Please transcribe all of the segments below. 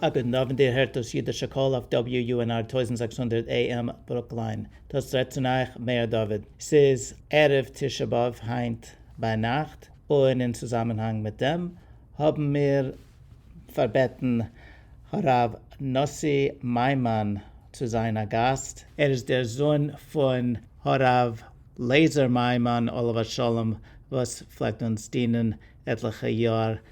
א גוטן אוונט איר הערט דאס אידישע קול אויף WUNR טויזנט זעקס הונדערט AM ברוקליין, דאס רעדט צון אייך מאיר דוד, ס'איז ערב תשעה באב היינט ביינאכט, און אין צוזאמענהאנג מיט דעם האבן מיר פארבעטן הרב נאסי מיימאן צו זיין א גאסט, ער איז דער זון פון הרב לייזער מיימאן עליו השלום וואס פלעגט אונז דינען עטליכע יאר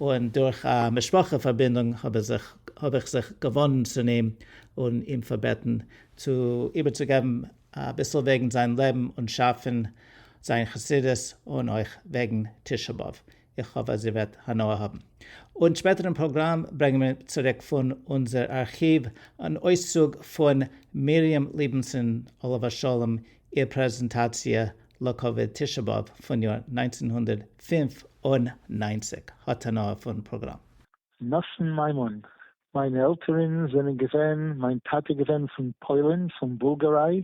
און דורך א משפחה פארבינדונג האב איך זיך געוואנדן צו אים און אים פארבעטן צו איבערצוגעבן אביסל וועגן זיין לעבן און שאף פון זיין חסידות און אויך וועגן תשעה באב, איך האף אז איר וועט הנאה האבן. און שפעטערן פראגראם ברענגען מיר צוריק פון אונזער ארכיוו אן אויסצוג פון מרים ליבנסון עליו השלום איר פרעזענטאציע לכבוד תשעה באב פון יאר נײַנצן הונדערט פֿינף און נײַנציק האט הנאה פון פראגראם. נתן מיימון, מיינע עלטערין זענען געווען, מיין טאטע איז געווען פון פוילין, פון בולגאריי,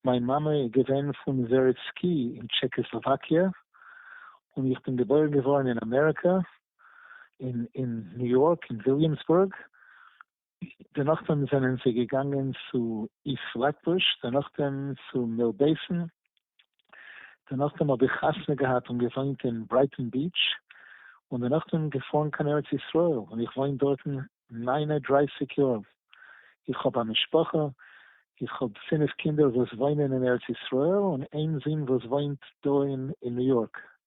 מיין מאמע איז געווען פון וועריצקי אין טשעקאסלאוואקיע, און איך בין געבוירן געווארן אין אמעריקא, אין ניו יארק אין וויליאמסבורג, דערנאך דעם זענען זיי געגאנגען צו איסט פלעטבוש, דערנאך דעם צו מיל בעיסן, דערנאך דעם האב איך חתונה געהאט און געוואוינט אין ברייטאן ביעטש, און דערנאך דעם געפארן קיין ארץ ישראל, און איך וואוין דארטן נײַן און דרײַסיק יאר, איך האב א משפחה, איך האב פינף קינדער וואס וואוינען אין ארץ ישראל, און איין זון וואס וואוינט דא אין ניו יארק.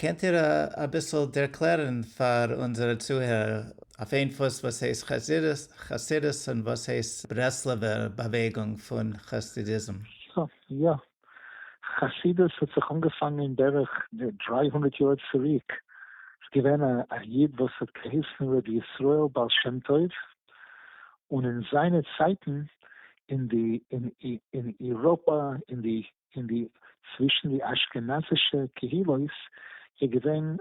קענט איר אביסל ערקלערן פאר אונזערע צוהערער אויף איין פוס וואס הייסט חסידות און וואס הייסט ברסלב'ער באוועגונג פון חסדיזם? סא יא, חסידות האט זיך אנגעפאנגען בערך דריי הונדערט יאר צוריק, ס'איז געווען א איד וואס האט געהייסן רבי ישראל בעל שם טוב, און אין זיינע צייטן אין די אין איראפא אין די אין די צווישן די אשכנזישע קהילות איז געווען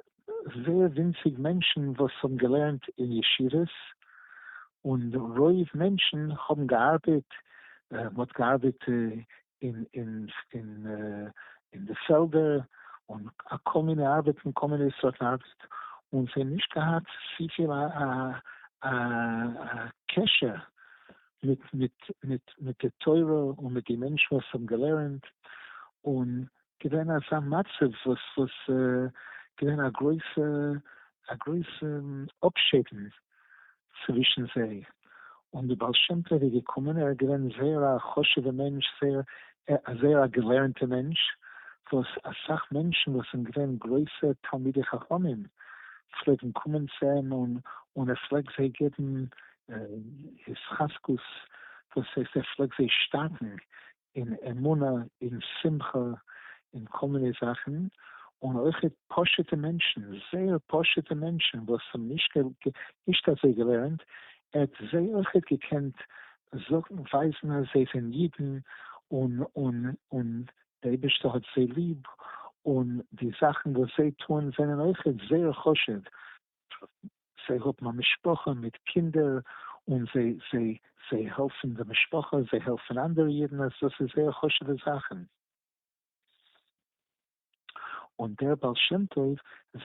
זייער ווינציג מענטשן וואס האבן געלערנט אין ישיבות, און רוב מענטשן האבן געארבעט, מען האט געארבעט אין די פעלדער, און כל מיני ארבעטן, כל מיני סארט ארבעט, און זיי האבן נישט געהאט צופיל א קשר מיט די תורה און מיט די מענטשן וואס האבן געלערנט, און געווען אזא מצב וואס איז געווען א גרויסע א גרויסע אפשעדן צווישן זיי, און די בעל שם טוב איז געקומען, ער איז געווען זייער א חשוב'ע מענטש, זייער זייער א געלערנטע מענטש, וואס אסאך מענטשן וואס זענען געווען גרויסע תלמידי חכמים פלעגן קומען צו אים און ער פלעגט זיי געבן התחזקות וואס הייסט ער פלעגט זיי שטארקן אין אמונה אין שמחה אין כל מיני זאכן, און אויך פשוטע מענטשן זייער פשוטע מענטשן וואס האבן נישט אזוי געלערנט ער האט זיי אויך געקענט זאגן ווייזן אז זיי זענען אידן און און און דער אייבערשטער האט זיי ליב און די זאכן וואס זיי טוען זענען אויך זייער חשוב. זיי האבן א משפחה מיט קינדער און זיי זיי זיי העלפן די משפחה, זיי העלפן אנדערע אידן, אז דאס איז זייער חשוב'ע זאכן. און דער בעל שם טוב,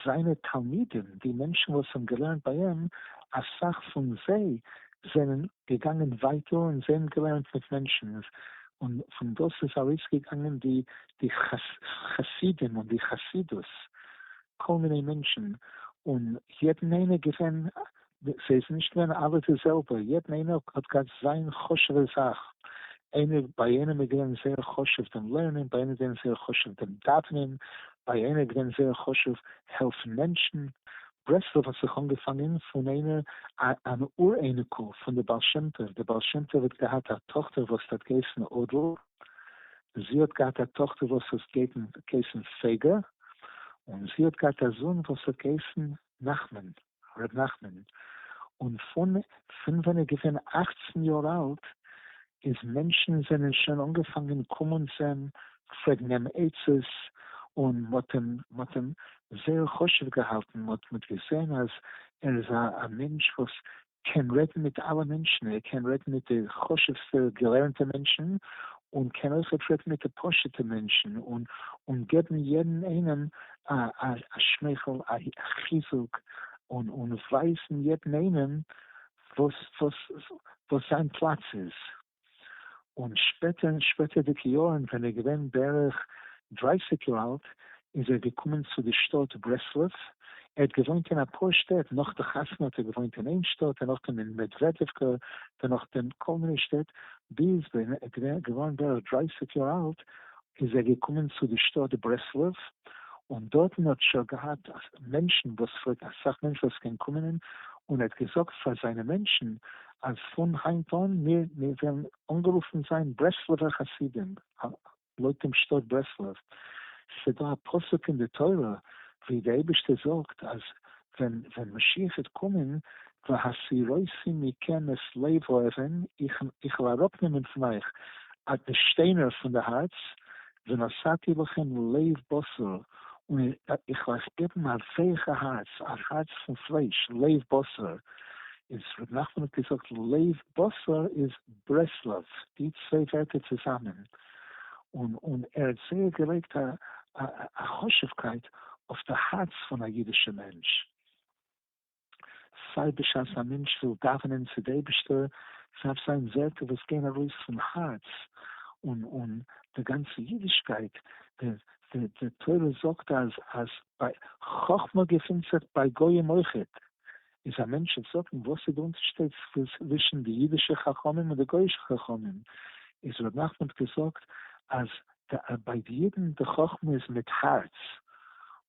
זיינע תלמידים, די מענטשן וואס האבן געלערנט ביי אים, אסאך פון זיי זענען געגאנגען ווייטער און זיי האבן געלערנט מיט מענטשן, און פון דאס איז ארויסגעגאנגען די די חסידים און די חסידות, כל מיני מענטשן און יעדן איינער געווען סאיז נישט געווען אלע די זעלבע יעדן איינער האט געהאט זיין חשובע זאך איינער ביי איינעם איז געווען זייער חשוב דעם לערנען ביי איינעם איז געווען זייער חשוב דעם דאווענען ביי איינער איז געווען זייער חשוב העלפן מענטשן ברסלב האט זיך אנגעפאנגען פון איינער א אן אור אייניקל פון די בעל שם טוב די בעל שם טוב האט געהאט א טאכטער וואס האט געהייסן אדל זי האט געהאט א טאכטער וואס האט געהייסן פייגא, און זי האט געהאט א זון וואס האט געהייסן נחמן, ר' נחמן, און פון פון ווען ער איז געווען אכצן יאר אלט איז מענטשן זענען שוין אנגעפאנגען קומען צו אים פרעגן אים עצות, און מ'האט אים מ'האט אים זייער חשוב געהאלטן, מ'האט מ'האט געזען אז ער איז א מענטש וואס קען רעדן מיט אלע מענטשן, ער קען רעדן מיט די חשוב'סטע געלערנטע מענטשן, און קען אויך אפשר רעדן מיט די פשוטע מענטשן, און געבן יעדן איינעם א שמייכל, א חיזוק, און ווייזן יעדן איינעם וואס זיין פלאץ איז. און שפעטער אין שפעטערדיגע יארן ווען ער איז געווען בערך דרייסיג יאר אלט איז ער געקומען צו די שטאט ברסלב, ער האט געוואוינט אין אפאר שטעט, נאך די חתונה האט ער געוואוינט אין איין שטאט, דערנאכדעם אין מעדוועדעווקע, דערנאכדעם כל מיני שטעט, ביז ווען ער איז געווארן בערך דרייסיג יאר אלט איז ער געקומען צו די שטאט ברסלב, און דארטן האט שע געהאט מענטשן וואס פרעגט אסאך מענטשן וואס קען קומען און ער האט געזאגט פאר זיינע מענטשן אז פון היינט אן מיר מיר וועלן אנגערופן זיין ברסלב'ער חסידים, לויט דעם שטאט ברסלב, ס'דא א פסוק אין די תורה ווי די אייבישטער זאגט אז ווען ווען משיח וועט קומען, והסירותי מכם את לב האבן, איך וועל אראפנעמען פון אייך די שטיינער פון די הארץ, ונשאתי לכם לב בשר, און איך וועל אייך געבן א ווייכע הארץ, א הארץ פון פלייש, לב בשר. איז ר' נחמן האט געזאגט לב בשר איז ברסלב, די צוויי ווערטער צוזאמען, און און ער האט זייער געלייגט א א חשובקייט אויף די הארץ פון א אידישע מענטש. סיי בשעת א מענטש וויל דאווענען צו די אייבישטער, סדארף זיין ווערטער וואס גייען ארויס פון הארץ, און און די גאנצע אידישקייט, די די די תורה זאגט אז אז ביי חכמה געפינט זיך ביי גוים אויכעט, איז א מענטש וועט זאגן וואס איז די אונטערשטייט צווישן די אידישע חכמים און די גוישע חכמים, איז ר' נחמן האט געזאגט אז ביי די אידן די חכמה איז מיט הארץ,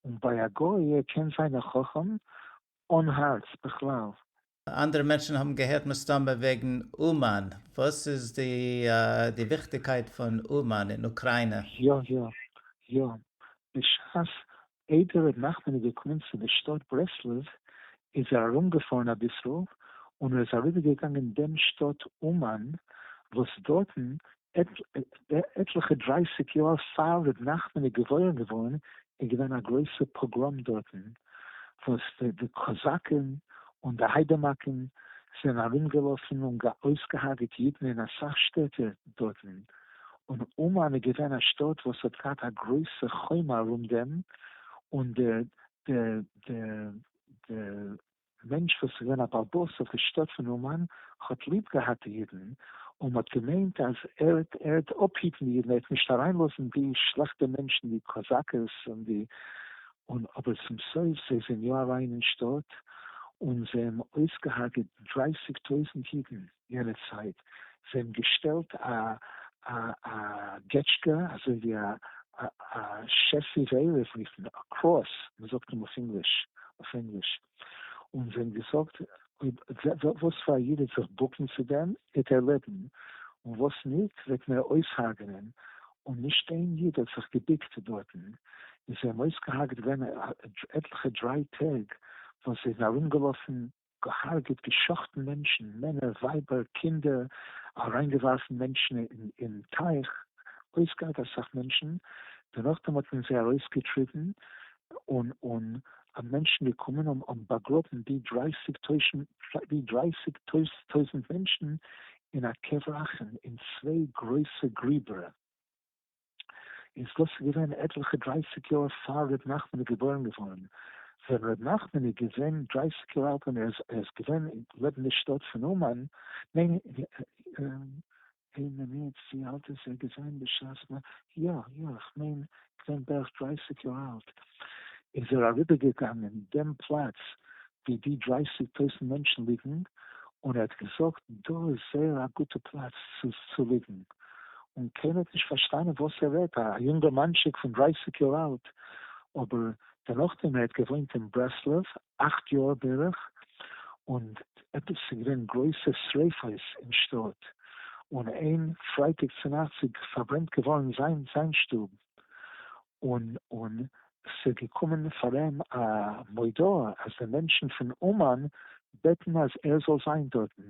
און ביי א גוי ער קען זיין א חכם אן הארץ בכלל. אנדערע מענטשן האבן געהערט מסתמא וועגן אומאן, וואס איז די די וויכטיגקייט פון אומאן אין אוקריינע? יא יא יא, בשעת איידער ר' נחמן איז געקומען צו די שטאט ברסלב איז ער ארומגעפארן אביסל און ער איז אריבערגעגאנגען דעם שטאט אומאן וואס דארטן עטליכע דרייסיג יאר פאר ר' נחמן איז געבוירן געווארן איז געווען א גרויסע פאגראם דארטן וואס די קאזאקן און די היידאמאקן זענען ארומגעלאפן און אויסגעהארגעט אידן אין אסאך שטעטער דארטן און אומאן איז געווען א שטאט וואס האט געהאט א גרויסע חומה ארום דעם, און דער דער דער דער מענטש וואס איז געווען א בעל בית אויף די שטאט פון אומאן האט ליב געהאט די אידן, און מען האט געמיינט אז ער וועט ער וועט אפהיטן די אידן, ער וועט נישט אריינלאזן די שלעכטע מענטשן די קאזאקעס און די, און אבער צום סוף זיי זענען יא אריין אין שטאט, און זיי האבן אויסגעהארגעט דרייסיג טויזנט אידן. יענע צייט, זיי האבן געשטעלט א געטשקע, אזוי ווי א שעסיס עירוב אויפן קראס, מען זאגט אים אויף ענגליש, און זיי האבן געזאגט, וואס פאר א איד וועט זיך בוקן צו דעם וועט ער לעבן, און וואס ניט וועט מען אויסהארגענען, און נישט איין איד האט זיך געבוקט דארטן, און זיי האבן אויסגעהארגעט געווען עטליכע דריי טעג וואס זיי זענען ארומגעלאפן געהארגעט, געשחטן מענטשן, מענער, ווייבער, קינדער, אריינגעווארפן מענטשן אין טייך, אויסגעהרג'ט אסאך מענטשן, דערנאכדעם האט מען זיי ארויסגעטריבן, און און א מענטשן געקומען און און באגראבן די דרייסיג טוישן די דרייסיג טויזנט מענטשן אין א קבר אחים, אין צוויי גרויסע גריבער. איז דאס איז געווען עטליכע דרייסיג יאר פאר ר' נחמן איז געבוירן געווארן, ווען ר' נחמן איז געווען דרייסיג יאר אלט און ער איז געווען לעבן די שטאט פון אומאן, ניין אין מינוט ווי אלט איז ער געווען בשעת מ. יא יא איך מיין געווען בערך דרייסיג יאר אלט, איז ער אריבער געגאנגען דעם פלאץ ווי די דרײַסיק טויזנט מענטשן ליגן, און ער האט געזאגט דא איז זייער א גוטע פלאץ צו ליגן, און קיינער האט נישט פארשטאנען וואס ער רעדט, א יונגערמאנטשיק פון דרײַסיק יאר אלט, אבער דערנאך דעם ער האט געוואוינט אין ברסלב אַכט יאר בערך, און עפעס ס'איז געווען גרויסע שריפות אין שטאט, און איין פרייטאג צונאכטס איז פארברענט געווארן זיין שטוב, און און ס'געקומען פאר אים א מודעה אז די מענטשן פון אומאן בעטן אז ער זאל זיין דארטן.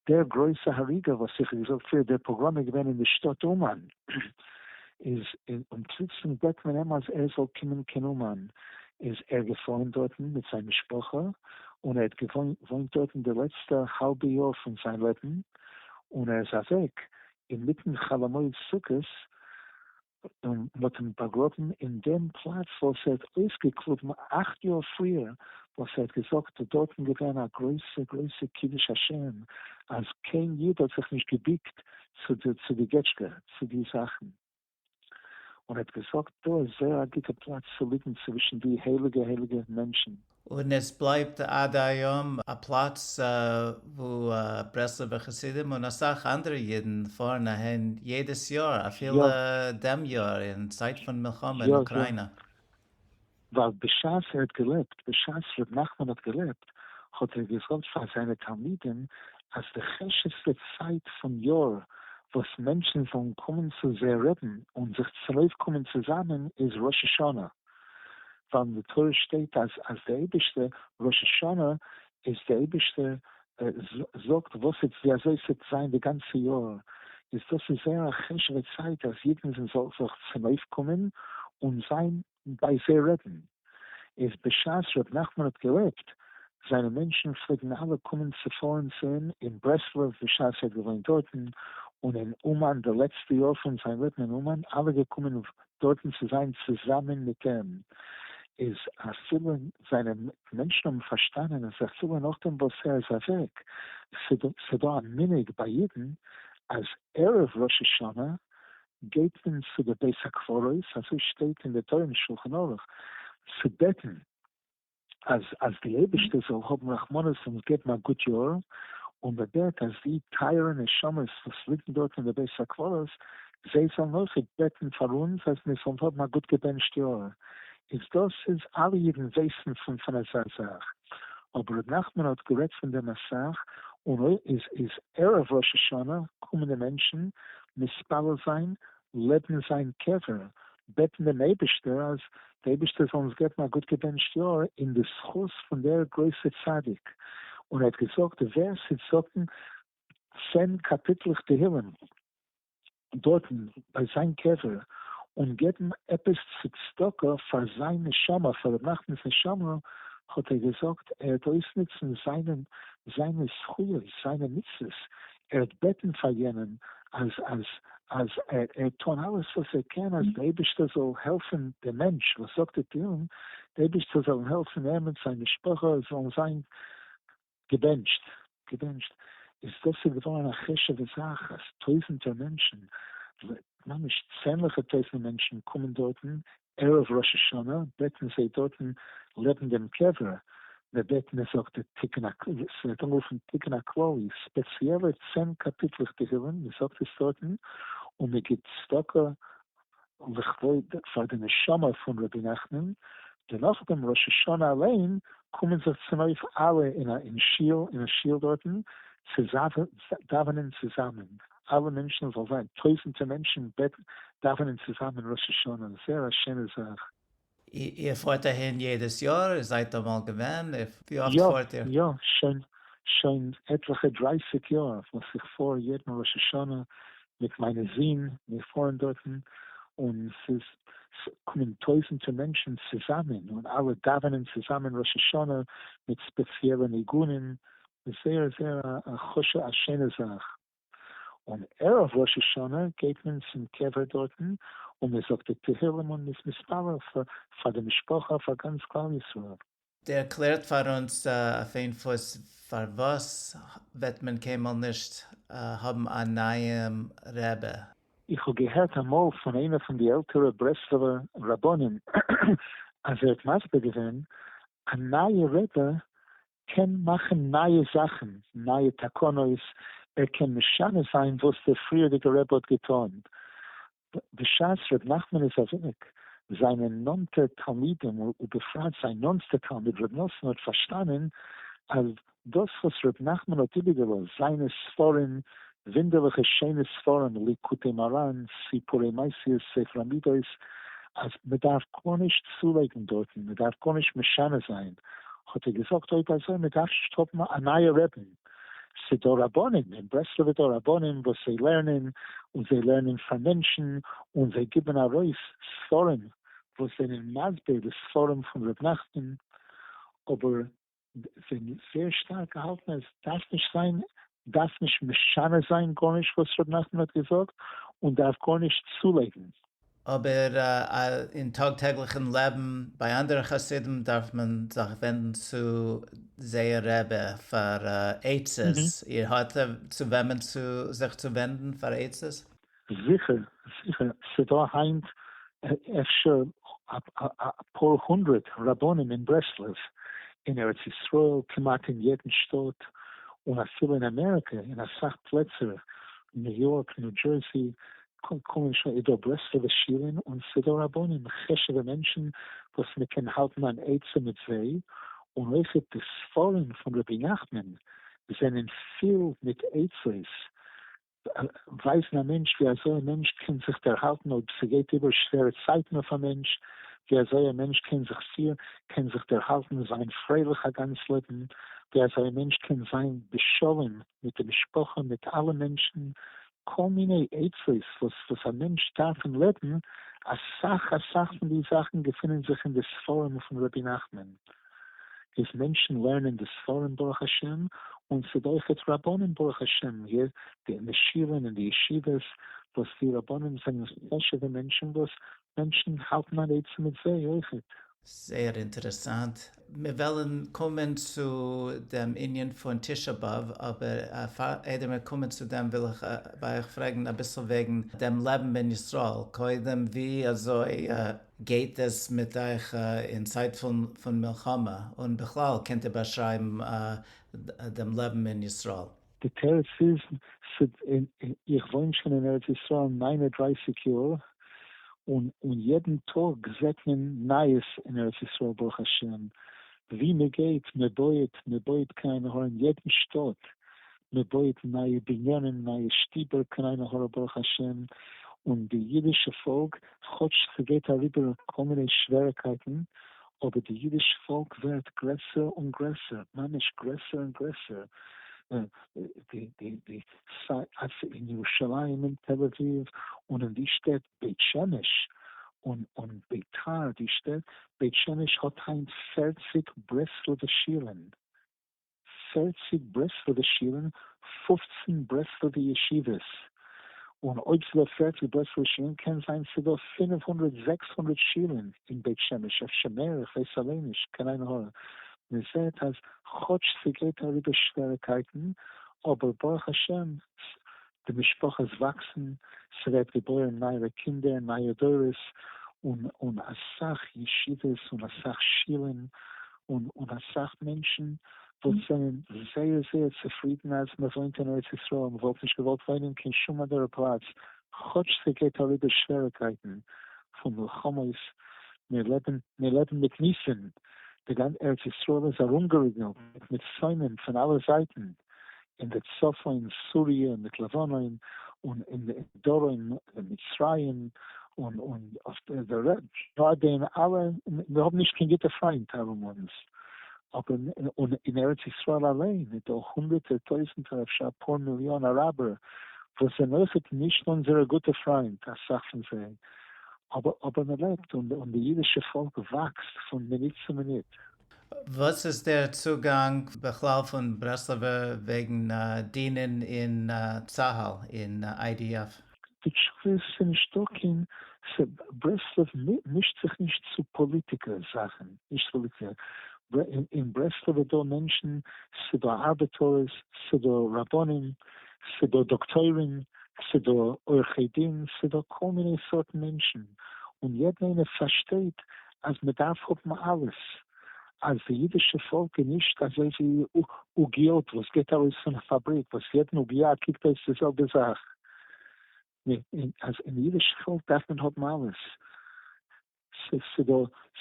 דער גרויסע הריגה וואס איך האב געזאגט פריער, דער פאגראם איז געווען אין די שטאט אומאן, איז און פלוצלונג בעט מען אים אז ער זאל קומען קיין אומאן, איז ער געפארן דארטן מיט זיין משפחה, און ער האט געוואוינט דארטן די לעצטע האלבע יאר פון זיין לעבן, און ער איז אוועק, אינמיטן חאלע מועד סוכות, און מ'האט אים באגראבן אין דעם פלאץ וואס ער האט אויסגעקליבן אכט יאר פריער, וואס ער האט געזאגט ס'איז דארטן געווען א גרויסע גרויסע קידוש השם, אז קיין איד האט זיך נישט געביקט צו די געטשקע, צו די זאכן. און ער האט געזאגט, דא איז זייער א גוטע פלאץ צו ליגן צווישן די הייליגע הייליגע מענטשן. און עס בלייבט עד היום א פלאץ וואו ברסלב'ע חסידים און אסאך אנדערע אידן פארן אהין יעדעס יאר, אפילו דעם יאר אין צייט פון מלחמה אין אוקריינא. ווייל בשעת ער האט געלעבט, בשעת ר' נחמן האט געלעבט, האט ער געזאגט פאר זיינע תלמידים אז די חשוב'סטע צייט פון יאר וואס מענטשן זאלן קומען צו זיי רעדן און זיך צונויפקומען צוזאמען איז ראש השנה, ווייל אין די תורה שטייט אז אז די אייבערשטע ראש השנה איז די אייבערשטע זאגט וואס איז ווי אזוי ס'וועט זיין די גאנצע יאר, איז דאס איז זייער א חשוב'ע צייט אז אידן זאלן זיך צונויפקומען און זיין ביי זערעטן איז בשעת ר' נחמן האט געלעבט, זיינע מענטשן פלעגן אלע קומען צופארן צו אים אין ברסלב בשעת ער האט געוואוינט דארטן, און אין אומאן די לעצטע יאר פון זיין לעבן אין אומאן אלע געקומען דארטן צו זיין צוזאמען מיט אים, איז אפילו זיינע מענטשן האבן פארשטאנען אז אפילו נאכדעם וואס ער איז אוועק, ס'דא א מנהג ביי אידן אז ערב ראש השנה גייט מען צו די בית הקברות, אזוי שטייט אין די תורה אין שלחן ערוך, צו בעטן אז אז די אייבערשטער זאל האבן רחמנות און אונז געבן א גוט יאר, און מען בעט אז די טייערע נשמות וואס ליגן דארט אין די בית הקברות, זיי זאלן אויך בעטן פאר אונז אז מיר זאלן האבן א גוט געבענטשט יאר, איז דאס איז אלע אידן ווייסן פון פון אזא זאך, אבער ר' נחמן האט גערעדט פון דעם אסאך, און אויך איז איז ערב ראש השנה קומען די מענטשן מתפלל זיין, לעבן זיין קבר, בעטן דעם אייבישטער אז די אייבישטער זאל אונז געבן א גוט געבענטשט יאר אין די זכות פון דער גרויסע צדיק, און ער האט געזאגט ווער ס'וועט זאגן צען קאפיטלעך תהילים דארטן ביי זיין קבר, און געבן עפעס צו צדקה פאר זיין נשמה, פאר ר' נחמנ'ס נשמה, האט ער געזאגט ער וועט אויסנוצן זיינע זכויות, זיינע מצוות, ער האט בעטען פאר יענעם אז אז אז ער טון אלעס וואס ער קען אז די אייבישטער זאל העלפען די מענטש וואס זאגט די תהלים די אייבישטער זאל אים העלפען ער מיט זיין משפחה זאלן זיין געבענטשט געבענטשט איז דאס איז געווארען א חשובע זאך אז טויזענטער מענטשען ממש צענליכע טויזענער מענטשען קומען דארטען ערב ראש השנה בעט מען זיי דארטן לעבן דעם קבר, מען בעט מען זאגט די תיקון הכללי, ס'ווערט אנגערופן תיקון הכללי, ספעציעלע צען קאפיטלעך תהילים, מען זאגט עס דארטן, און מען גיבט צדקה לכבוד פאר די נשמה פון רבי נחמן, דערנאך ביים ראש השנה אליין קומען זיך צונויף אלע אין א אין שול אין א שול דארטן צו דאווענען צוזאמען. אלע מענטשן זאל זיין טויזענטע מענטשן בעט דאווענען צוזאמען ראש השנה זייער א שיינע זאך. איר פארט אהין יעדעס יאר? איר זייט אמאל געווען? ווי אפט פארט איר? יא יא שוין עטליכע דרייסיג יאר וואס איך פאר יעדן ראש השנה מיט מיינע זין, מיר פארן דארטן און ס'איז קומען טויזענטע מענטשן צוזאמען און אלע דאווענען צוזאמען ראש השנה מיט ספעציעלע ניגונים איז זייער זייער א חשו א שיינע זאך, און ערב ראש השנה גייט מען צום קבר דארטן און מען זאגט די תהלים און מען איז מתפלל פאר די משפחה פאר גאנץ כלל ישראל. ערקלערט פאר אונז אויף איין פוס פארוואס וועט מען קיינמאל נישט האבן א נייעם רעבע? איך האב געהערט אמאל פון איינע פון די עלטערע ברסלב'ע רבנים אז ער האט מסביר געווען, א נייע רעבע קען מאכן נייע זאכן, נייע תקנות, ער קען משנה זיין וואס דער פריערדיגער רבי האט געטון. בשעת ר' נחמן איז אוועק, זיינע נאנטע תלמידים ובפרט זיין נאנסטע תלמיד ר' נתן האט פארשטאנען אז דאס וואס ר' נחמן האט איבערגעלאזט, זיינע ספרים ווינדערליכע שיינע ספרים ליקוטי מרן, סיפורי מעשיות, ספר המידות, אז מ'דארף גארנישט צולייגן דארטן, מ'דארף גארנישט משנה זיין, האט ער געזאגט אויב אזוי מ'דארף נישט האבן א נייע רעבין, ס'דא רבנים אין ברסלב איז דא רבנים וואס זיי לערנען און זיי לערנען פאר מענטשן און זיי גיבן ארויס ספרים וואס זענען מסביר די ספרים פון ר' נחמן אבער כ'בין זייער שטארק געהאלטן אז עס דארף נישט זיין, דארף נישט משנה זיין גארנישט וואס ר' נחמן האט געזאגט, און דארף גארנישט צולייגן. אבער אין טאג טעגליכן לעבן ביי אנדערע חסידים דארף מען זיך ווענדן צו זייער רבי פאר עצות, איר האט צו וועמען זיך צו ווענדן פאר עצות? זיכער זיכער ס'דא היינט אפשר אפאר הונדרעט רבנים אין ברסלב אין ארץ ישראל כמעט אין יעדן שטאט און אפילו אין אמעריקע אין אסאך פלעצער ניו יארק ניו דזשערסי קומען שוין איז דא ברסלבע שירען און ס'דא רבנים חשובע מענטשן וואס מ'קען האלטן אן עצה מיט זיי און אויכעט די ספרים פון רבי נחמן זענען פיל מיט עצות ווייסן א מענטש ווי אזוי א מענטש קען זיך דערהאלטן אויב ס'גייט איבער שווערע צייטן אויף א מענטש, ווי אזוי א מענטש קען זיך פירן, קען זיך דערהאלטן און זיין פרייליך א גאנץ לעבן, ווי אזוי א מענטש קען זיין בשלום מיט די משפחה מיט אלע מענטשן, כל מיני עצות וואס וואס א מענטש דארף אין לעבן, אסאך אסאך פון די זאכן געפינען זיך אין די ספרים פון רבי נחמן. איז מענטשן לערנען די ספרים ברוך השם, און ס'איז אויכעט רבנים ברוך השם מיר די משיבים אין די ישיבות, וואס די רבנים זענען חשוב'ע מענטשן וואס מענטשן האלטן אן עצה מיט זיי אויכעט. זייער אינטערעסאנט. מיר וועלן קומען צו דעם ענין פון תשעה באב, אבער איידער מיר קומען צו דעם וויל איך ביי אייך פרעגן אביסל וועגן דעם לעבן אין ישראל, קודם ווי אזוי גייט עס מיט אייך אין צייט פון מלחמה? און בכלל קענט איר באשרייבן דעם לעבן אין ישראל? די תירוץ איז, איך וואוין שוין אין ארץ ישראל ניין און דרייסיג יאר, און יעדן טאג זעט מען נייעס אין ארץ ישראל ברוך השם, ווי מען גייט, מען בויעט, מען בויעט קיין אהרן, יעדן שטאט מען בויעט נייע בנינים נייע שטיבער קניינע הרה ברוך השם, און די אידישע פאלק כאטש ס'גייט אריבער כל מיני שווערעקייטן אבער די אידיש פאלק ווערט גרעסער און גרעסער ממש גרעסער און גרעסער אין ירושלים אין תל אביב און אין די שטעט בית שמש און און ביתר די שטעט בית שמש האט היינט פערציג ברסלב'ע שירען. פֿערציק ברסלב'ע שילן, פֿופֿצן ברסלב'ע ישיבות, און אויב ס'דא פֿערציק ברסלב'ע שילן קען זיין ס'דא פֿינף הונדרעט זעקס הונדרעט שילן אין בית שמש, אפשר מער, איך ווייס אליין נישט, קיין עין הרע. מ'זעט אז כאטש ס'גייט אריבער שוועריקייטן, אבער ברוך השם די משפחות וואקסן, ס'ווערט געבוירן נייערע קינדער, נייע דורות, און און אסאך ישיבות און אסאך שילן, און און אסאך מענטשן וואס זענען זייער זייער צופרידן אז מ'וואוינט אין ארץ ישראל, מ'וואלט נישט געוואלט וואוינען אין קיין שום אנדערע פלאץ, כאטש ס'גייט אריבער שוועריקייטן פון מלחמות, מיר לעבן מיר לעבן מיט ניסים, די גאנ ארץ ישראל איז ארומגעריגלט מיט שונאים פון אלע זייטן, אין די צפון סוריע מיט לבנון און אין די דרום מיט מצרים און און אויף די רעדט די אין אלע מיר האבן נישט קיין גוטע פריינט ארום אונז אבער און אין ארץ ישראל אליין איז דא הונדערטער טויזענטער אפשר אפאר מיליאן אראבער וואס זענען אויכעט נישט אונזערע גוטע פריינט אסאך פון זיי אבער אבער מען לעבט און די אידישע פאלק וואקסט פון מינוט צו מינוט. וואס איז דער צוגאנג בכלל פון ברסלב'ע וועגן דינען אין צהל אין IDF? די תשובה איז ס'איז נישטא קיין, ס ה ברסלב מישט זיך נישט צו פאליטיקע זאכן, נישט פאליטיקע, אין ברסלב איז דא מענטשן, ס'דא ארבעטארס, ס'דא רבנים, ס'דא דאקטוירים, ס'דא עורכי דין, ס'דא כל מיני סארטן מענטשן, און יעדן איינער פארשטייט אז מען דארף האבן אלעס, אז די אידישע פאלק איז נישט אזוי ווי עוגיות וואס געט ארויס פון א פאבריק וואס יעדן עוגיה קוקט אויס די זעלבע זאך, אז אין אידישע פאלק דארף מען האבן אלעס,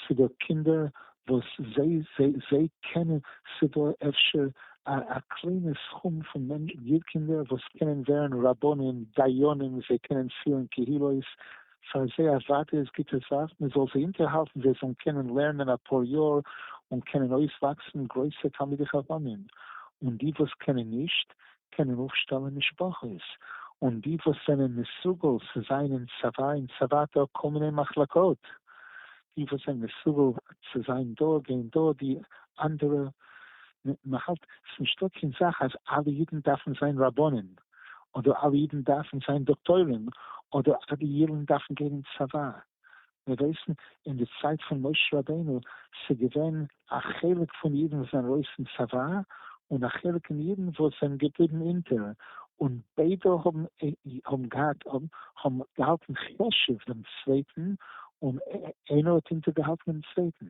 ס'דא קינדער וואס זיי קענען, ס'דא אפשר א קליינע סכום פון קינדער וואס קענען ווערן רבנים, דיינים, זיי קענען פירן קהילות, שוין זיי א זייט איז גוטע זאך, מען זאל זיי אינטערהאלטן זיי זאלן קענען לערנען אפאר יאר און קענען אויסוואקסן גרויסע תלמידי חכמים, און די וואס קענען נישט, קענען אויפשטעלן משפחות, און די וואס זענען מסוגל צו זיין אין צבא אין צבא דא כל מיני מחלקות, די וואס זענען מסוגל צו זיין דא גייען דא די אנדערע, מען האלט ס'נישטא קיין זאך אז אלע אידן דארפן זיין רבנים, אדער אלע אידן דארפן זיין דאקטוירים, אדער אלע אידן דארפן גיין אין צבא. מיר ווייסן אין די צייט פון משה רבינו ס'געווען א חלק פון אידן וואס זענען ארויס אין צבא, און א חלק אין אידן וואס זענען געבליבן אונטער, און ביידע האבן געהאלטן חשוב דעם צווייטן, און איינער האט אונטערגעהאלטן דעם צווייטן.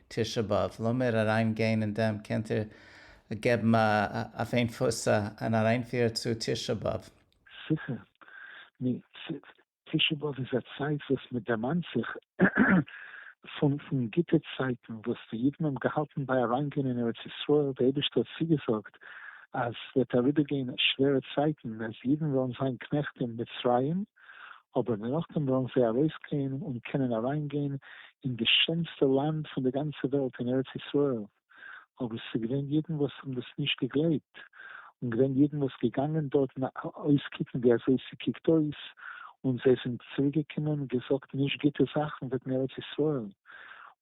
תשעה באב, לאמיר אריין גיין אין דעם, קענט איר געבן אויף איין פוס אן אריינפיר צו תשעה באב? זיכער. נו, תשעה באב איז א צייט וואס מען דערמאנט זיך פון גוטע צייטן וואס די אידן האבן געהאלטן ביי אריינגיין אין ארץ ישראל, די אייבערשטער האט צוגעזאגט אז ס'וועט אריבערגיין שווערע צייטן אז אידן וועלן זיין קנעכט אין מצרים, אבער נאכדעם וועלן זיי ארויסגיין און קענען אריינגיין אין די שענסטע לאנד פון די גאנצע וועלט אין ארץ ישראל, אבער ס'איז געווען אידן וואס האבן דאס נישט געגלייבט, און געווען אידן וואס געגאנגען דארטן אויסקוקן ווי אזוי ס'קוקט אויס, און זיי זענען צוריקגעקומען און געזאגט נישט גוטע זאכן וועגן ארץ ישראל,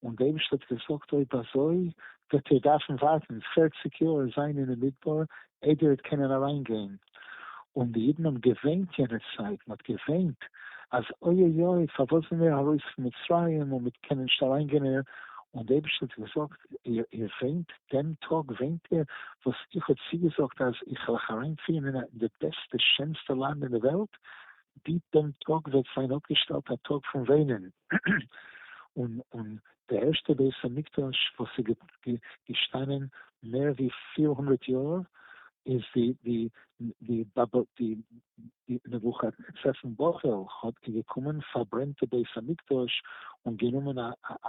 און די אייבערשטער האט געזאגט אויב אזוי וועט איר דארפן ווארטן פֿערציק יאר זיין אינעם מדבר אידער האט קענען אליין גיין, און די אידן האבן געוויינט יענע צייט, מען האט געוויינט אז אוי אוי אוי פארוואס זענען מיר ארויס פון מצרים און מיר קענען נישט אליין גיין, און די אייבערשטער האט געזאגט איר וויינט דעם טאג וויינט איר וואס איך האב צוגעזאגט אז איך וועל אייך אריינפירן אין די בעסטע שענסטע לאנד אין די וועלט, די דעם טאג וועט זיין אפגעשטעלט א טאג פון וויינען, און און די ערשטע בית המקדש וואס איז געשטאנען מער ווי פֿיר הונדערט יאר איז ווי די נבֿוכדנצר פון בבל האט געקומען פארברענט די בית המקדש און גענומען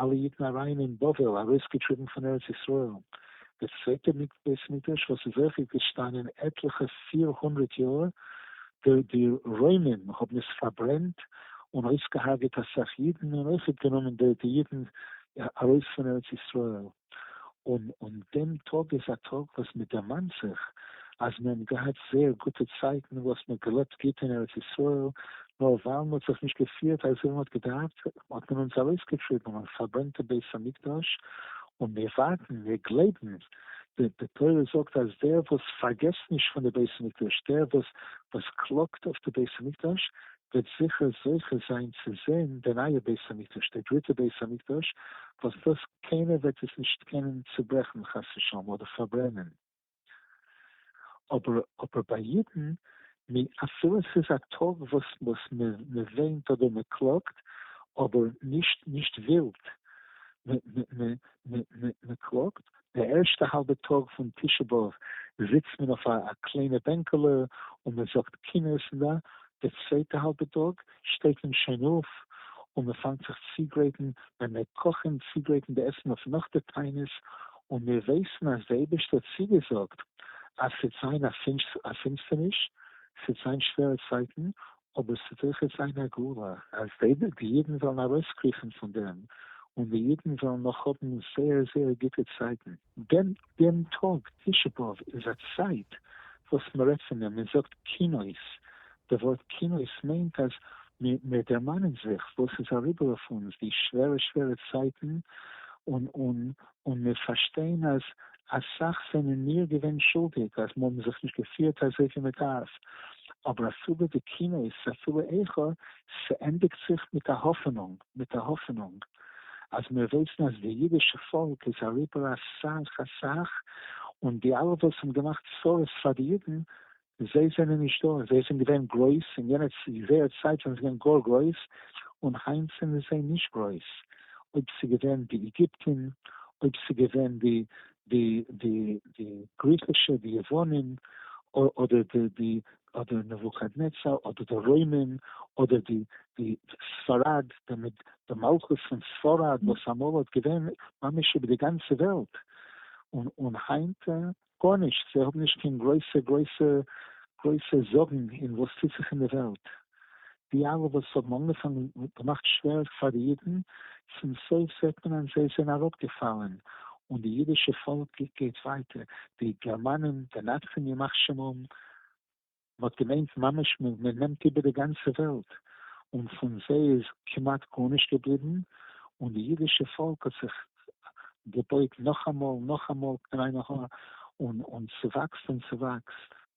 אלע אידן אריין אין בבל ארויסגעטריבן פון ארץ ישראל. די צווייטע בית המקדש וואס איז אויך געשטאנען עטליכע פֿיר הונדערט יאר די רוימען האבן עס פארברענט און אויסגעהארגעט אסאך אידן און אויכעט גענומען די אידן ארויס פון ארץ ישראל, און און דעם טאג איז א טאג וואס מען דערמאנט זיך אז מען האבן געהאט זייער גוטע צייטן וואס מען האט געלעבט גוט אין ארץ ישראל, נאר ווייל מען האט זיך נישט געפירט אזוי ווי מען האט געדארפט האט מען אונז ארויסגעטריבן און פארברענט די בית המקדש, און מיר ווארטן, מיר גלייבן, די תורה זאגט אז דער וואס פארגעסט נישט פון די בית המקדש, דער וואס וואס קלאגט אויף די בית המקדש, וועט זיכער זוכה זיין צו זען די נייע בית המקדש, די דריטע בית המקדש, וואס דאס קיינער וועט עס נישט קענען צוברעכן חס ושלום אדער פארברענען. אבער ביי אידן נו, אפילו עס איז א טאג וואס וואס מען מען וויינט אדער מען קלאגט, אבער נישט נישט ווילד, מען קלאגט, די ערשטע האלבע טאג פון תשעה באב זיצט מען אויף א קליינע בענקעלע און מען זאגט קינות און די צווייטע האלבע טאג, שטייט מען שוין אויף און מען פאנגט זיך צוגרייטן ווען מיר קאכן צוגרייטן די עסן אויף נאך די תענית און מיר ווייסן אז די אייבערשטער האט צוגעזאגט אז ס'עט זיין א פינסטערניש, ס'עט זיין שווערע צייטן, אבער ס'עט אויכעט זיין א גאולה, אז די אידן וועלן ארויסקריכן פון דעם און די אידן וועלן נאך האבן זייער זייער גוטע צייטן. דעם דעם טאג תשעה באב איז א צייט וואס מען רעדט פון דעם, מען זאגט קינות, די ווארט קינות מיינט אז מיר מיר דערמאנען זיך וואס איז אריבער אויף אונז די שווערע שווערע צייטן, און און און מיר פארשטיין אז אסאך זענען מיר געווען שולדיג אז מיר האבן זיך נישט געפירט אזוי ווי מען דארף, אבער אפילו די קינות אפילו איכה ס'ענדיגט זיך מיט א האפענונג, מיט א האפענונג, אז מיר ווייסן אז די אידישע פאלק איז אריבער אסאך אסאך, און די אלע וואס האבן געמאכט צרות פאר די אידן, זיי זענען נישט דא, זיי זענען געווען גרויס אין יענע זייער צייט זענען זיי געווען גאר גרויס, און היינט זענען זיי נישט גרויס, אויב ס'געווען די איגיפטין, אויב ס'געווען די די די די גריכישע, די יוונים, אדער די די אדער נבוכדנצר אדער די רוימים אדער די די ספרד די מלכות פון ספרד וואס אמאל האט געווען ממש איבער די גאנצע וועלט און און היינט גארנישט זיי האבן נישט קיין גרויסע גרויסע גרויסע זאגן אין וואס טוט זיך אין די וועלט די אלע וואס האבן אנגעפאנגען און געמאכט שווער פאר די אידן, צום סוף זעט מען אז זיי זענען אראפגעפאלען, און די אידישע פאלק גייט ווייטער, די גערמאנען מנצחים ימח שמם, מען האט געמיינט ממש מען נעמט איבער די גאנצע וועלט, און פון זיי איז כמעט גארנישט געבליבן, און די אידישע פאלק האט זיך געבויט נאכאמאל נאכאמאל קרענער, און ס'וואקסט און ס'וואקסט.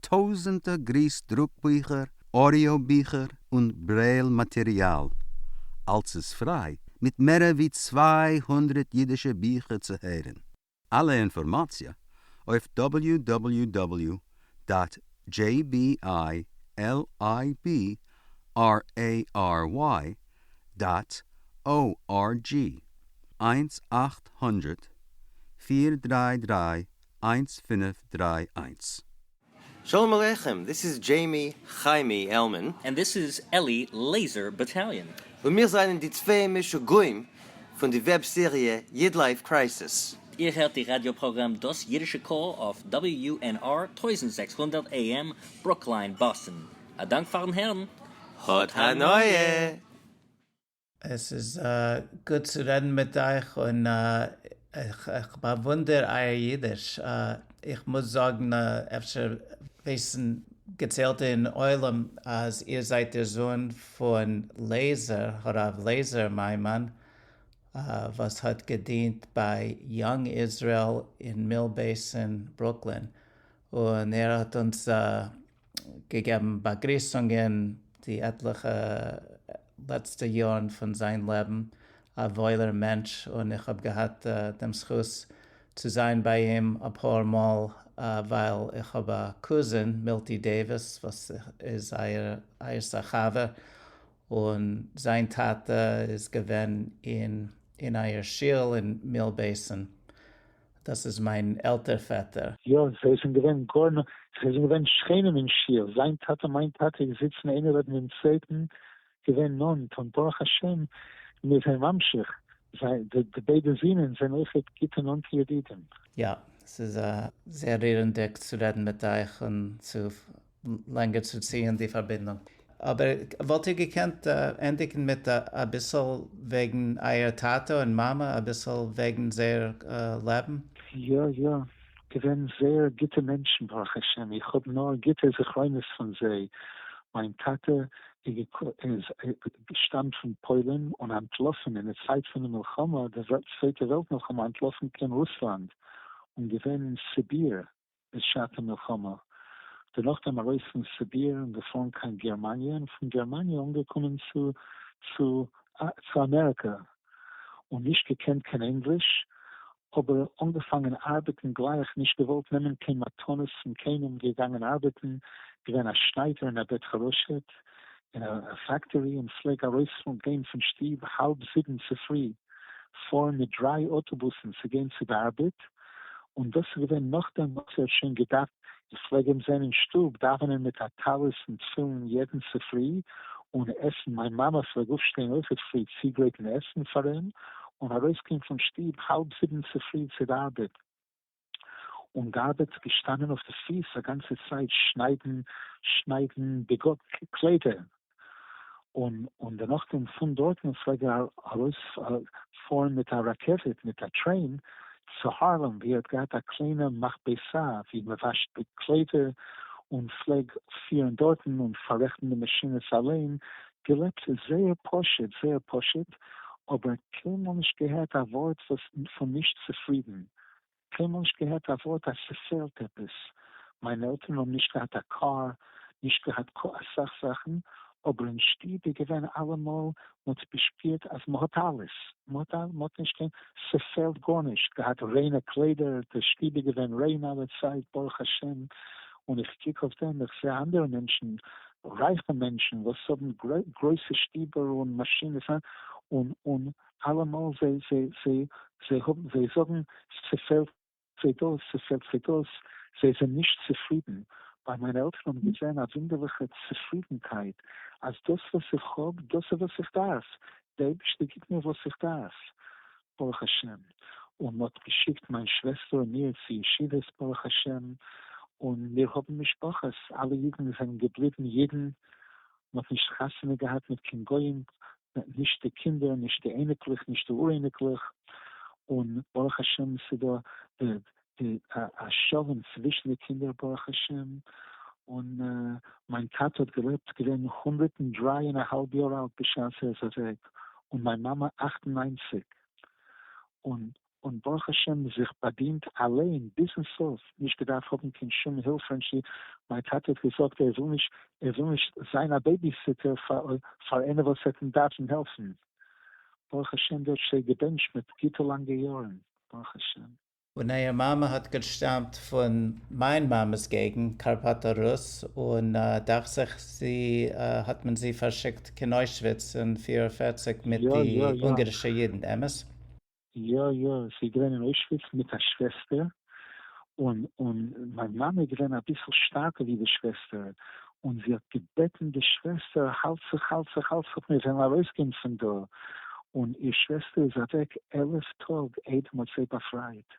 טויזענטער גריס דרוק ביכער, אודיאו ביכער און ברעיל מאטעריאל, אלס איז פריי מיט מערער ווי צוויי הונדרעט אידישע ביכער צו הערען. אלע אינפארמאציע אויף דאבעליו דאבעליו דאבעליו דאט דזשעי בי איי על איי בי אר עי אר וויי דאט או אר דזשי. איינס אַכט הונדרעט פֿיר דרײַ דרײַ איינס פינף דריי איינס. שלום עליכם, דיס איז דזשעימי חיימי עלמען. און דיס איז אלי לעיזער באטאליאן. און מיר זענען די צוויי משוגעים פון די וועב סעריע איד לייף קרייסיס. איר הערט די ראדיא פראגראם דאס אידישע קול אויף WNR טויזנט זעקס הונדערט AM ברוקלין באסטן. א דאנק פארן הערן. האט הנאה! עס איז גוט צו רעדן מיט אייך און איך באוואונדער אייער אידיש, איך מוז זאגן אפשר ווייסן געציילטע אין עולם אז איר זייט דער זוהן פון לעזער, הרב לעזער מיימאן, וואס האט געדינט ביי יאנג איזרעיל אין מיל בעיסין ברוקלין, און ער האט אונז געגעבן באגריסונגען די עטליכע לעצטע יארן פון זיין לעבן, א וואוילער מענטש, און איך האב געהאט דעם זכות צו זיין ביי אים אפאר מאל ווייל איך האב א קוזין מילטי דעיוויס וואס איז אייערס א חבר, און זיין טאטע איז געווען אין אייער שול אין מיל בעיסען. דאס איז מיין עלטער פעטער. יא, זיי זענען געווען גאר נאנט, זיי זענען געווען שכנים אין שול, זיין טאטע און מיין טאטע געזיצן איינער לעבן דעם צווייטן, געווען נאנט, און ברוך השם מיר זענען ממשיך, די ביידע זינען זענען אויכעט גוטע נאנטע ידידים. יא, ס'איז זייער רירענדיג צו רעדן מיט אייך און צו לענגער צו ציען די פארבינדונג. אבער וואלט איר געקענט ענדיגן מיט אביסל וועגן אייער טאטע און מאמע, אביסל וועגן זייער לעבן? יא יא, געווען זייער גוטע מענטשן ברוך השם, איך האב נאר גוטע זכרונות פון זיי, מיין טאטע איז געשטאמט פון פוילן און אנטלאפן אין די צייט פון די מלחמה, די צווייטע וועלט מלחמה אנטלאפן קיין רוסלאנד און געווען אין סיביר בשעת המלחמה, דערנאך דעם ארויס פון סיביר און געפארן קיין גערמאניע און פון גערמאניע אנגעקומען צו צו אמעריקא און נישט געקענט קיין ענגליש אבער אנגעפאנגען ארבעטן גלייך נישט געוואלט נעמען קיין מתנות פון קיינעם געגאנגען ארבעטן געווען א שניידער און א בית חרושת אין א פעקטארי און פלעג ארויספארן גיין פון שטוב האלב זיבן צופרי פארן מיט דריי אוטובוסן צו גיין צו די ארבעט און דאס איז געווען נאכדעם וואס ער האט שוין געדארפט איך פלעג אים זען אין שטוב דאווענען מיט א טלית און תפילין יעדן צופרי און עסן מיין מאמע פלעג אויפשטיין אויכעט פרי צוגרייטן עסן פאר אים און ארויסגיין פון שטוב האלב זיבן צופרי צו די ארבעט. און געארבעט געשטאנען אויף די פיס א גאנצע צייט שניידן שניידן די קליידער און און דערנאך דעם פון דארטן פלעג ער ארויס פארן מיט א רכבת מיט א טרעין צו הארלעם ווי ער האט געהאט א קליינע מכבסה ווי מען וואשט די קליידער און פלעג פירן דארטן און פאררעכטן די מאשינעס אליין געלעבט זייער פשוט זייער פשוט אבער קיינמאל נישט געהערט א ווארט וואס פון נישט צופרידן קיינמאל נישט געהערט א ווארט אז ס'פעלט עפעס, מיינע עלטערן האבן נישט געהאט א קאר, נישט געהאט כה אסאך זאכן, אבער אין שטוב איז געווען אלעמאל, מ'האט געשפירט אז מ'האט אלעס, מ'האט נישט קיין, ס'פעלט גארנישט, געהאט ריינע קליידער, די שטוב איז געווען ריין אלע צייט ברוך השם, און איך קוק אויף דעם, איך זעה אנדערע מענטשן, רייכע מענטשן וואס האבן גרויסע שטובער און מאשינעס, און. אלעמאל זיי זיי זיי זיי האבן זיי זאגן ס'פעלט זיי דאס ס'פעלט זיי דאס זיי זענען נישט צופרידן, ביי מיינע עלטערן האבן געזען א וואונדערליכע צופרידנקייט אז דאס וואס איך האב דאס איז וואס איך דארף, די אייבערשטער גיבט מיר וואס איך דארף ברוך השם, און מ'האט געשיקט מיין שוועסטער און מיר צו ישיבות ברוך השם, און מיר האבן משפחות אלע אידן זענען געבליבן אידן, מ'האט נישט חתונה געהאט מיט קיין גוים נישט די קינדער נישט די אייניקלעך נישט די אור-אייניקלעך, און ברוך השם ס'דא א שלום צווישן די קינדער ברוך השם, און מיין טאטע האט געלעבט געווען הונדערט און דריי און א האלב יאר אלט בשעת ער איז אוועק, און מיין מאמע אַכט און נײַנציק, און און ברוך השם זיך באדינט אליין ביזן סוף, נישט געדארפט האבן קיין שום הילף פון ש. מיין טאטע האט געזאגט ער וויל נישט זיין א בעיביסיטער פאר איינער וואס וועט אים דארפן העלפן. ברוך השם דער האט ש. געבענטשט מיט גוטע לאנגע יארן. ברוך השם. און אייער מאמע האט געשטאמט פון מיין מאמע'ס געגנט, קארפאטא רוס, און דאכט זיך זי האט מען זי פארשיקט קיין אוישוויץ אין פֿיר און פֿערציק מיט די אונגערישע אידן, אמת? יא יא, זי איז געווען אין אוישוויץ מיט א שוועסטער, און און מיין מאמע איז געווען אביסל שטארקער ווי די שוועסטער, און זי האט געבעטן די שוועסטער האלט זיך האלט זיך האלט זיך מיר וועלן ארויסגיין פון דא, און איר שוועסטער איז אוועק עלף טאג איידער מ'האט זיי באפרייט,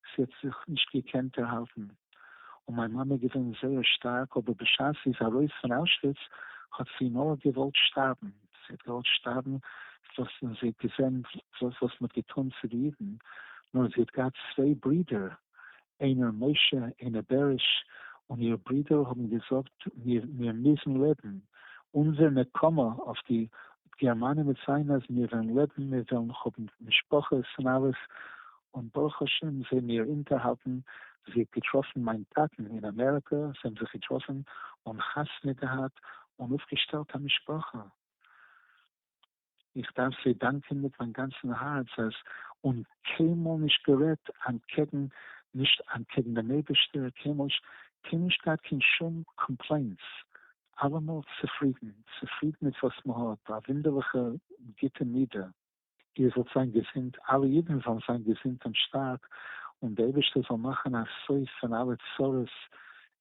זי האט זיך נישט געקענט דערהאלטן, און מיין מאמע איז געווען זייער שטארק אבער בשעת זי איז ארויס פון אוישוויץ האט זי נאר געוואלט שטארבן. זי געוואלט שטארבן וואס זי האט געזען וואס מ'האט געטון צו די אידן, נאר זי האט געהאט צוויי ברידער איינער משה איינער בעריש, און איר ברידער האבן געזאגט מיר מיר מוזן לעבן, אונזער נקמה אויף די גערמאנען וועט זיין אז מיר וועלן לעבן, מיר וועלן האבן משפחות און אלעס, און ברוך השם זעמיר אונטערהאלטן, זי האט געטראפן מיין טאטן אין אמעריקא, זיי האבן זיך געטראפן און חתונה געהאט און אויפגעשטעלט א משפחה, איך דארף זיי דאנקען מיט מיין גאנצן הארץ אז און קיינמאל נישט גערעדט אנטקעגן נישט אנטקעגן דעם אייבערשטער, קיינמאל נישט געהאט קיין שום קאמפלעינטס, אלעמאל צופרידן, צופרידן מיט וואס מען האט, א וואונדערליכע גוטע מידה. איר זאלט זיין געזונט, אלע אידן זאלן זיין געזונט און שטארק, און דער אייבערשטער זאל מאכן א סוף פון אלע צרות,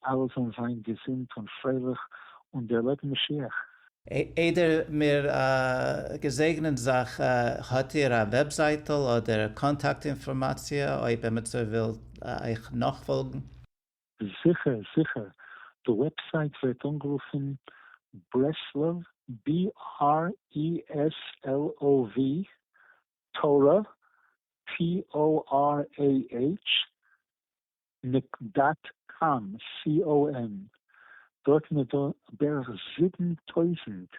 אלע זאלן זיין געזונט און פרייליך און דערלעבן משיח. איידער מיר געזעגנען זיך, האט איר א וועבזייטל אדער קאנטאקט אינפארמאציע אויב עמיצער וויל אייך נאכפאלגן? זיכער זיכער, די וועבסייט ווערט אנגערופן ברסלב, BRESLOV, תורה, TORAH, נק דאט קאם, COM, דארטן איז דא בערך זיבן טויזנט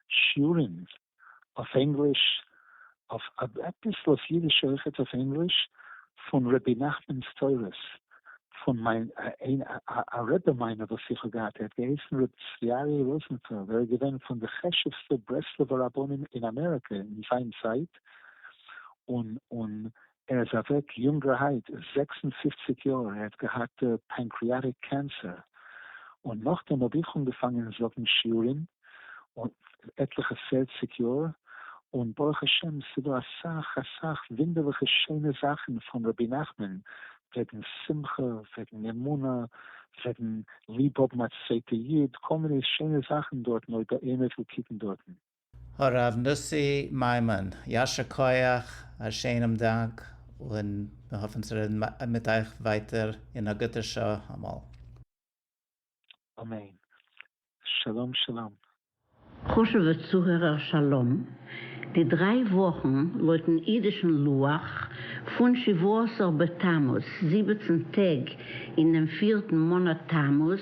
שיעורים אויף ענגליש אויף אביסל אויף אידיש אויכעט אויף ענגליש פון רבי נחמן'ס תורות פון מיין א רבי מיינע וואס איך האב געהאט ער האט געהייסן רבי צבי אריה ראזנפעלד ער איז געווען פון די חשובסטע ברסלב'ע רבנים אין אמעריקא אין זיין צייט און און ער איז אוועק יונגערהייט, זעקס און פֿופֿציק יאר, ער האט געהאט פענקריאטיק קענסער, און נאכדעם האב איך אנגעפאנגען זאגן שיעורים, עטליכע פערציג יאר, און ברוך השם ס'דא אסאך אסאך ווינדערליכע שיינע זאכן פון רבי נחמן, וועגן שמחה, וועגן אמונה, וועגן ליב האבן א צווייטע איד, כל מיני שיינע זאכן דארטן אויב איינער וויל קוקן דארטן. הרב נשיא מיימון, יישר כח, א שענעם דאנק, און מיר האפן צו רעדן מיט אייך ווייטער אין א גוטער שעה אמאל. אמן. שלום שלום. חשובע צוהערער שלום, די דריי וואכן לויטן אידישן לוח פון שבעה עשר בתמוז, זיבעצן טעג אינעם פירטן מאנאט תמוז,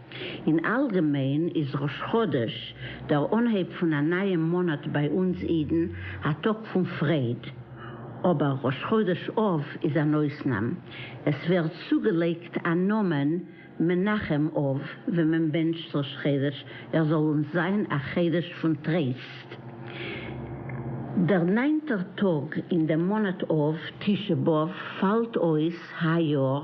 אין אלגעמיין איז ראש חודש, דער אנהייב פון א נייעם מאנאט ביי אונז אידן, א טאג פון פרייד. אבער ראש חודש אב איז אן אויסנאם. עס ווערט צוגעלייגט א נאמען מנחם אב ווען מען בענטשט ראש חודש ער זאל אונז זיין א חודש פון טרייסט. דער ניינטער טאג אין דעם מאנאט אב, תשעה באב, פאלט אויס היי יאר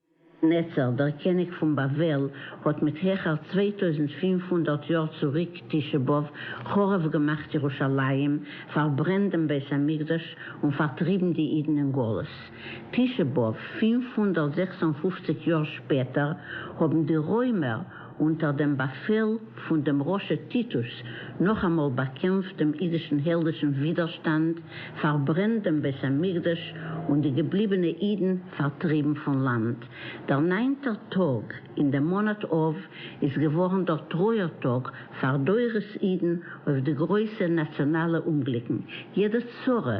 נצר, דער קעניג פון בבל, האט מיט העכער צוויי טויזנט פֿינף הונדערט יאר צוריק תשעה באב חרוב געמאכט ירושלים, פארברענט דעם בית המקדש, און פארטריבן די אידן אין גלות. תשעה באב פֿינף הונדערט זעקס און פֿופֿציק יאר שפעטער האבן די רוימער, אונטער דעם באפעל פון דעם רשע טיטוס, נאכאמאל באקעמפט דעם אידישן העלדישן ווידערשטאנד, פארברענט דעם בית המקדש, און די געבליבענע אידן פארטריבן פון לאנד. דער ניינטער טאג אין דעם מאנאט אב איז געווארן דער טרויער טאג פאר דורות אידן אויף די גרויסע נאציאנאלע אומגליקן, יעדע צרה,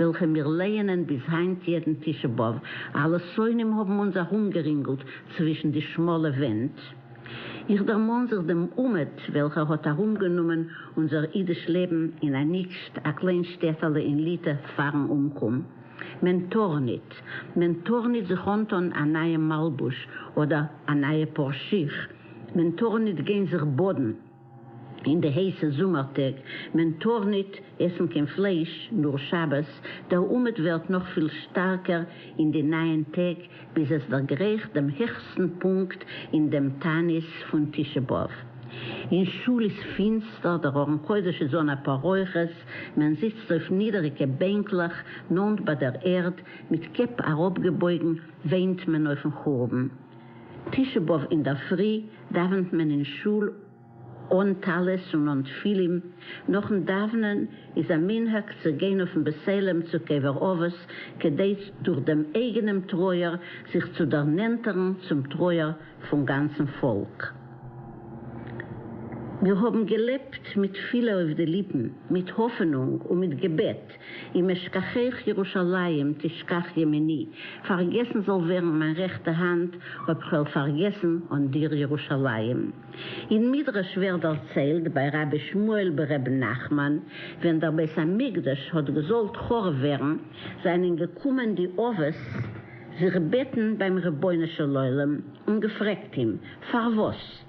וועלכע מיר לייענען ביז היינט יעדן תשעה באב, אלע שונאים האבן אונז ארומגערינגלט צווישן די שמאלע ווענט. איך דערמאן זיך דעם אומעט וועלכער האט ארומגענומען אונזער אידיש לעבן אין א נישט א קליין שטעטעלע אין ליטע פארן אומקום. מען טאר ניט. מען טאר ניט זיך אנטאן א נייעם מלבוש אדער א נייע פאר שיך. מען טאר ניט גיין זיך באדן. אין די הייסע זומער טעג, מען טאר ניט עסן קיין פלייש, נאר שבת, דער אומעט ווערט נאך פיל שטארקער אין די נייען טעג, ביז עס דערגרייכט דעם העכסטן פונקט אין דעם תענית פון תשעה באב. אין שול איז פינסטער, דער ארון קודש איז אן א פאררויכעס, מען זיצט אויף נידעריגע בענקלעך נאנט ביי דער ערד, מיט קעפ אראפגעבויגן, וויינט מען אויפן חורבן. תשעה באב אינדערפרי דאווענט מען אין שול אן טלית און אן תפילין, נאכן דאווענען איז א מנהג צו גיין אויפן בית עלם צו קבר אבות כדי דורך דעם אייגענעם טרויער זיך צו דערנענטערן צום טרויער פון גאנצן פאלק. מיר האבן געלעבט מיט תפילה אויף די ליפן, מיט האפענונג און מיט געבעט. אם אשכחך ירושלים תשכח ימיני, פארגעסן זאל ווערן מיין רעכטע האנט, אויב כ'וועל פארגעסן אן דיר ירושלים. אין מדרש ווערט דערציילט ביי רבי שמואל ב ר נחמן, ווען דער בית המקדש האט געזאלט חרוב ווערן, זענען געקומען די אבות זיך בעטן ביים רבונו של עולם און געפרעגט אים, פארוואס?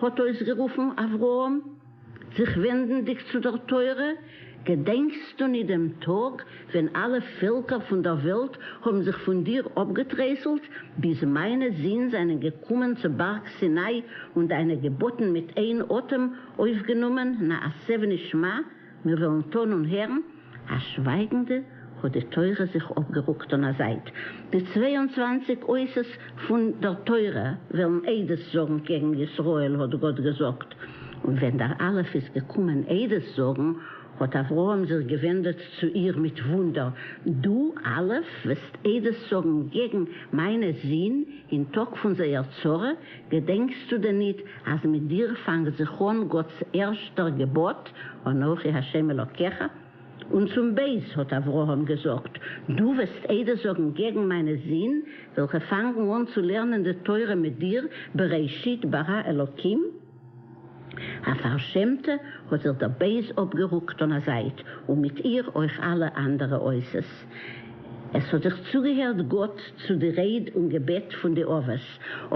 האט אויסגערופן אברהם, זיך ווענדנדיק צו דער תורה, געדענקסטו ניט דעם טאג, ווען אלע פעלקער פון דער וועלט האבן זיך פון דיר אפגעטרייסלט, ביז מיינע זין זיינען געקומען צו בארג סיני, און דיינע געבאטן מיט איין אטעם אויפגענומען, נעשה ונשמע? מיר וועלן טון און הערן, אַז שווייגנדע האָט די תורה זיך אָפּגערוקט אָן אַ זייט. די צוויי און צוואַנציק אותות פֿון דער תורה וועלן עדות זאָגן קעגן ישראל, האָט גאָט געזאָגט. און ווען דער אלף איז געקומען עדות זאָגן, האָט אברהם זיך געווענדעט צו איר מיט וווּנדער, דו, אלף, וועסט עדות זאָגן קעגן מײַנע זין אין טאָג פֿון זייער צרה, געדענקסטו דען ניט, אַז מיט דיר פֿאַנגט זיך אָן גאָטס ערשטער געבאָט, אנכי ה' אלקיך? און צום בית האָט אברהם געזאָגט, דו וועסט עדות זאָגן געגן מיינע זין, וועלכע פֿאַנגן אָן צו לערנען די תורה מיט דיר, בראשית ברא אלקים? א פארשעמטע האט זיך דער בייז אפגערוקט און א זייט, און מיט איר אויך אלע אנדערע עושות. עס האט זיך צוגעהערט גאט צו די רעד און געבעט פון די אבות,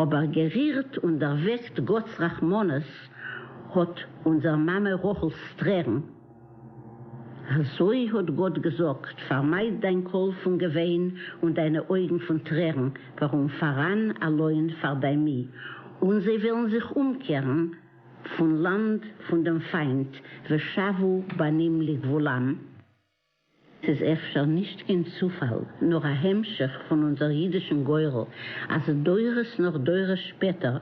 אבער גערירט און דערוועקט גאט'ס רחמנות האט אונזער מאמע רחל'ס טרערן, אַזוי האָט גאָט געזאָגט, פאַרמייד דיין קול פון געוויין און דיינע אויגן פון טרערן, וואָרום פאַראַן אַ לוין פאַר דיין מי, און זיי וועלן זיך אומקערן פון לאַנד פון דעם פיינט, ושבו בנים לגבולם. ס'איז אפשר נישט קיין צופאל, נאר א המשך פון אונזער אידישן גורל, אז דורות נאך דורות שפעטער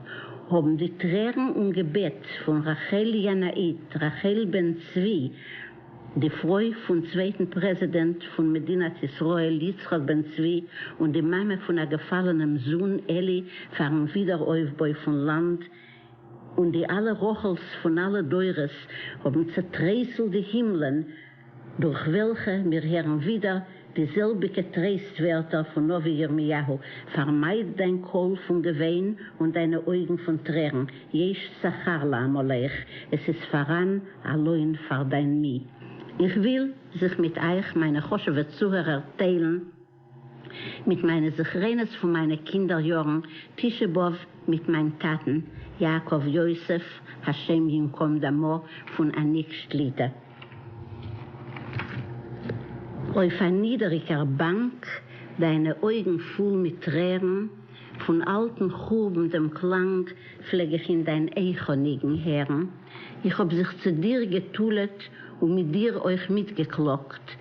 האבן די טרערן און געבעט פון רחל ינאית, רחל בן צבי, די פרוי פון צווייטן פרעזידענט פון מדינת ישראל יצחק בן צבי און די מאמע פון א געפאלענעם זון אלי, פארן ווידער אויפבוי פון לאנד, און די אלע רחל'ס פון אלע דורות האבן צעטרייסלט די הימלען. דורך וועלכע מיר הערן ווידער די זעלביגע טרייסט ווערטער פון נביא ירמיהו, פארמייד דיין קול פון געוויין און דיינע אויגן פון טרערן, יש שכר לעמלך, עס איז פאראן א לוין פאר דיין מי. איך וויל זיך מיט אייך מיינע חשוב'ע צוהערער טיילן, מיט מיינע זכרונות פון מיינע קינדער יארן, תשעה באב מיט מיין טאטן יעקב יוסף השם ינקום דמו פון אניק שליט א, אויף א נידעריגער באנק, דיינע אויגן פול מיט טרערן, פון אלטן חורבן דעם קלאנג פלעג איך אין דיין איכה ניגון הערן, איך האב זיך צו דיר גע'תול'עט און מיט דיר אויך מיטגעקלאגט,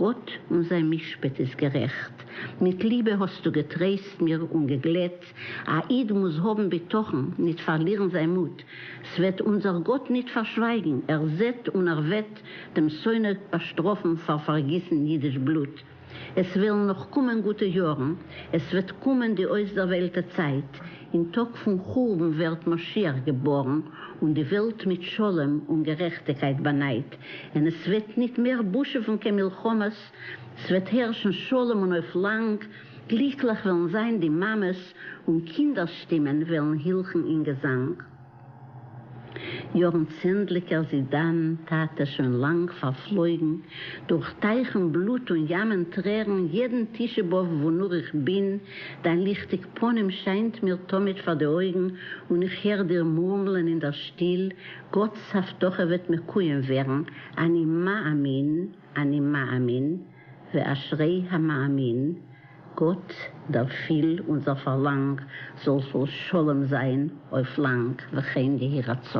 גאָט און זײַן מישפּט איז גערעכט. מיט ליבע האָסטו געטרײסט מיר און געגלעט. אַ ייִד מוז האָבן בטחון, ניט פֿאַרלירן זײַן מוט. ס'װעט אונדזער גאָט ניט פֿאַרשװײַגן, ער זעט און ער װעט דעם שׂונא באַשטראָפֿן פֿאַר פֿאַרגיסן ייִדיש בלוט. עס װעלן נאָך קומען גוטע יאָרן, עס װעט קומען די אױסדערװעלטע צײַט. אין טאג פון חורבן ווערט משיח געבארן, און די וועלט מיט שלום און גערעכטיקייט באנייט, אין עס וועט ניט מער בושעווען קיין מלחמות, ס'וועט הערשן שלום און אויף לאנג, גליקלעך וועלן זיין די מאמעס, און קינדערס שטימען וועלן הילכן אין געזאנג. יאָרן צענדליקער זידאַן טאַטע שוין לאַנג פֿאַרפֿלויגן, דורך טײַכן בלוט און ימען טרערן יעדן תּישעה-באָבֿ וווּ נאָר איך בין, דײַן ליכטיק פּנים שיינט מיר תּמיד פֿאַר די אויגן און איך הער דיר מורמלען אין דער שטיל, גאָטס הבטחה וועט מקוים ווערן, אַני מאַמין, אַני מאַמין. ואשרי המאמין, גאט דערפיל אונזער פארלאנג זאל פול שלום זיין אויף לאנג וכן יהי רצון.